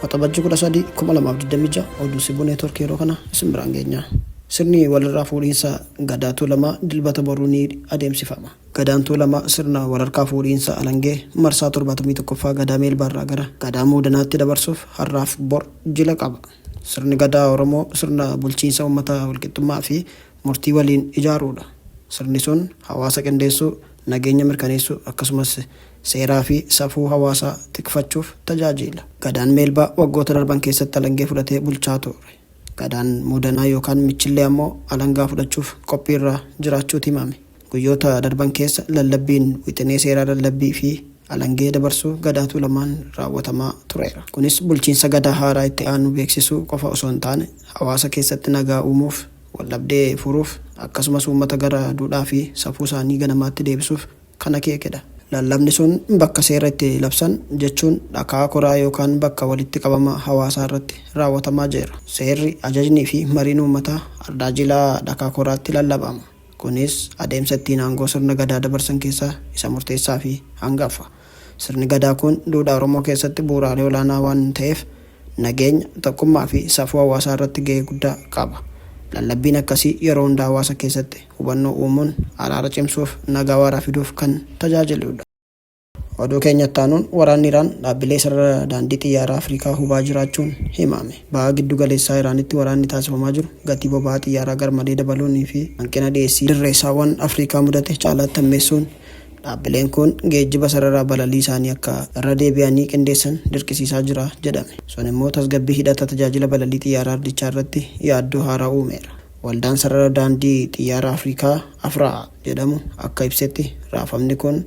Waxabajjii 13 2026 oduu sibuu neetworkii yeroo kana isin biraan geenya. Sirni walirraa fuudhiinsa Gadaa Tuulamaa dilbata boruu ni adeemsifama. Gadaan Tuulamaa sirna walharkaa fuudhiinsa alangee marsaa 71ffaa Gadaa Meelbaarraa gara Gadaa Muudanaatti dabarsuuf har'aaf bor jila qaba. Sirni Gadaa Oromoo sirna bulchiinsa uummataa walqixxummaa fi murtii waliin ijaaruu dha. Sirni sun hawaasa qindeessuu, nageenya mirkaneessuu, akkasumas seeraa fi safuu hawaasaa tikfachuuf tajaajiila. Gadaan Meelbaa waggoota darban keessatti alangee fudhatee bulchaa ture. Gadaan Muudanaa yookaan Michillee ammoo alangaa fudhachuuf qophiirra jiraachuuti himame. Guyyoota darban keessa lallabbiin wixinee seeraa lallabbii fi alangee dabarsuu Gadaa Tuulamaan raawwatamaa tureera. Kunis bulchiinsa Gadaa haaraa itti aanu beeksisuu qofa osoo hin taane hawaasa keessatti nagaa uumuuf, waldhabdee furuuf akkasumas uummata gara duudhaa fi safuu isaanii ganamaatti deebisuuf kan akeeke dha. Lallabni sun bakka seera itti labsan jechuun dhakaa koraa yookaan bakka walitti qabama hawaasaa irratti raawwatamaa jeera. Seerri, ajajnii fi mariin uummataa Ardaa Jilaa dhakaa koraatti lallabama. Kunis adeemsa ittiin aangoo sirna Gadaa dabarsan keessaa isa murteessaafi hangaffa. Sirni Gadaa kun duudhaa Oromoo keessatti bu'uuraalee olaanaa waan ta'eef nageenya, tokkummaafi safuu hawaasaa irratti gahee guddaa qaba. Lallabbiin akkasii yeroo hunda hawaasa keessatti hubannoo uumuun araara cimsuuf nagaa waaraa fiduuf kan tajaajiluudha. Oduu keenya itti aanuun waraanni Iraan dhaabbilee sarara daandii xiyyaaraa Afrikaa hubaa jiraachuun himame. Baha giddu galeessaa Iraanitti waraanni taasifamaa jiru gatii boba'aa xiyyaaraa garmalee dabaluunii fi hanqina dhiyeessii dirreessaawwan Afrikaa mudate caalaatti hammeessuun dhaabbileen kun geejjiba sarara balalii isaanii akka irra deebi'anii qindeessan dirqisiisaa jira jedhame. Sun immoo tasgabbii hidhata tajaajila balalii xiyyaaraa ardichaa irratti yaaddoo haaraa uumeera. Waldaan sarara daandii xiyyaaraa Afrikaa, Afraa, jedhamu akka ibsetti raafamni kun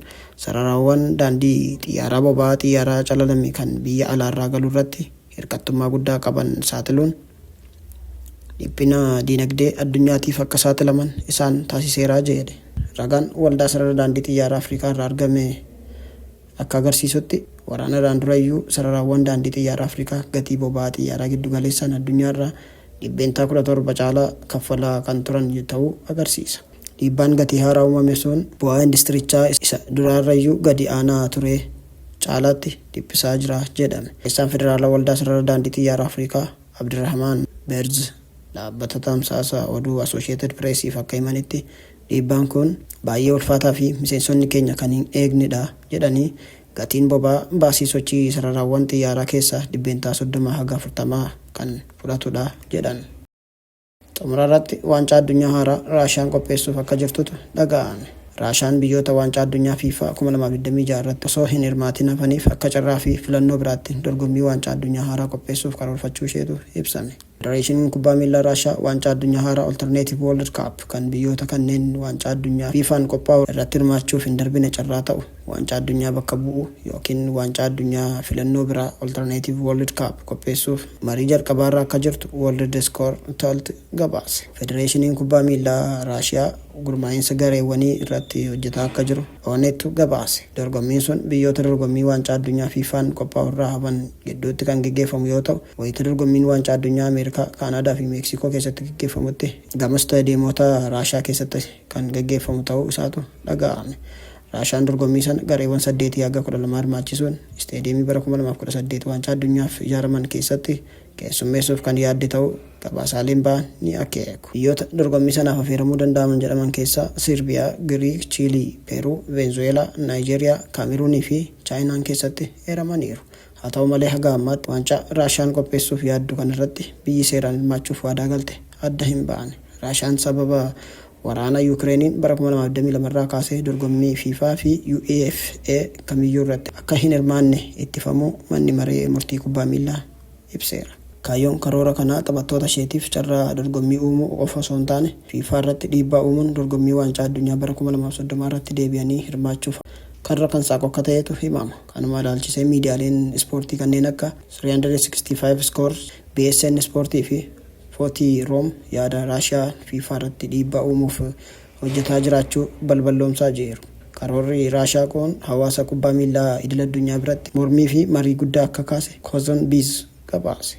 Sararawwan daandii xiyyaaraa boba'aa xiyyaaraa calalame kan biyya alaarraa galu irratti hirkattummaa guddaa qaban saaxiluun dhiphina diinagdee addunyaatiif akka saaxilaman isaan taasiseera jedhe. Ragaan Waldaa Sarara Daandii Xiyyaaraa Afrikaa irraa argame akka agarsiisutti, waraana irraan dura iyyuu sararawwan daandii xiyyaaraa Afrikaa gatii boba'aa xiyyaaraa giddu galeessaan addunyaa irraa %17 caalaa kaffalaa kan turan ta'uu agarsiisa. Dhiibbaan gatii haaraa uumame sun bu'aa industirichaa isa duraarrayyuu gadi aanaa turee caalaatti dhiphisaa jira jedhame. Barreessaan Federaalaa Waldaa Sarara Daandii Xiyyaaraa Afrikaa Abdirahmaan Beerz dhaabbata tamsaasa oduu Asooshiyeetid Pireesiif akka himanitti, dhiibbaan kun baay'ee ulfaataa fi miseensonni keenya kan hin eegnedha jedhanii Gatiin boba'aa baasii sochii sararaawwan xiyyaaraa keessaa dhibbeentaa 30 haga 40 kan fudhatudha jedhan. Xumurarratti Waancaa Addunyaa haaraa Raashiyaan qopheessuuf akka jirtutu dhaga'ame. Raashaan biyyoota Waancaa Addunyaa Fifa 2026 irratti osoo hin hirmaatiin hafaniif akka carraa fi filannoo biraatti dorgommii Waancaa Addunyaa haaraa qopheessuuf karoorfachuu isheetu ibsame. Federeeshiniin Kubbaa Miillaa Raashiyaa Waancaa Addunyaa haaraa Alternative World Cup kan biyyoota kanneen Waancaa Addunyaa FIFAn qophaa'u irratti hirmaachuuf hin darbine carraa ta'u Waancaa Addunyaa bakka bu'u ykn Waancaa Addunyaa filannoo biraa Alternative World Cup qopheessuuf marii jalqabaarra akka jirtu Worldescore Talt gabaase. Federeeshiniin Kubbaa Miillaa Raashiyaa gurmaa'insa gareewwanii irratti hojjetaa akka jiru. Onettu gabaase. Dorgommiin sun biyyoota dorgommii Waancaa Addunyaa FIFAn qophaa'u irraa hafan gidduutti kan geggeeffamu yoo ta'u, wayita dorgommiin Waancaa Addunyaa Ameerikaa, Kaanaadaa fi Meeksikoo keessatti geggeeffamutti gama istaadiyemoota Raashiyaa keessatti kan geggeeffamu ta'uu isaatu dhaga'ame. Raashiyaan dorgommii sana gareewwan saddeetii haga kudha lamaa hirmaachisuun isteediyeemii bara kuma lamaa fi kudha saddeet Waancaa Addunyaaf ijaaraman keessatti keessummeessuuf kan yaadde ta'uu Gabaasaaleen ba'an ni akeeku. Biyyoota dorgommii sanaaf afeeramuu danda'aman jedhaman keessaa Sirbiyaa, Giriik, Chiilii, Peeruu, Veenzuweelaa, Naayijeeriyaa, Kaameruunii fi Chaayinaan keessatti eeramaniiru. Haa ta'u malee haga ammaatti waancaa Raashiyaan qopheessuuf yaaddu kanarratti biyyi seeraan hirmaachuuf waadaa galte adda hin baane. Raashiyaan sababa waraana Yuukireeniin bara 2022 irraa kaasee dorgommii Fifa fi UEFA kamiyyuu irratti akka hin hirmaanne ittifamuu Manni Maree Murtii Kubbaa Miillaa ibseera. Kaayyoon karoora kanaa taphattoota isheetiif carraa dorgommii uumuu qofa osoo hin taane, Fiifaa irratti dhiibbaa uumuun dorgommii Waancaa Addunyaa bara 2030 irratti deebi'anii hirmaachuuf karra kan saaqu akka ta'etu himama. Kanuma ilaalchisee miidiyaaleen ispoortii kanneen akka 365 Scores, BSN Sport fi 40 Room yaada Raashiyaan Fiifaa irratti dhiibbaa uumuuf hojjetaa jiraachuu balballoomsaa jiiru. Karoorri Raashaa kuun hawaasa kubbaa miillaa idil addunyaa biratti mormii fi marii guddaa akka kaase Kozon Biz gabaase.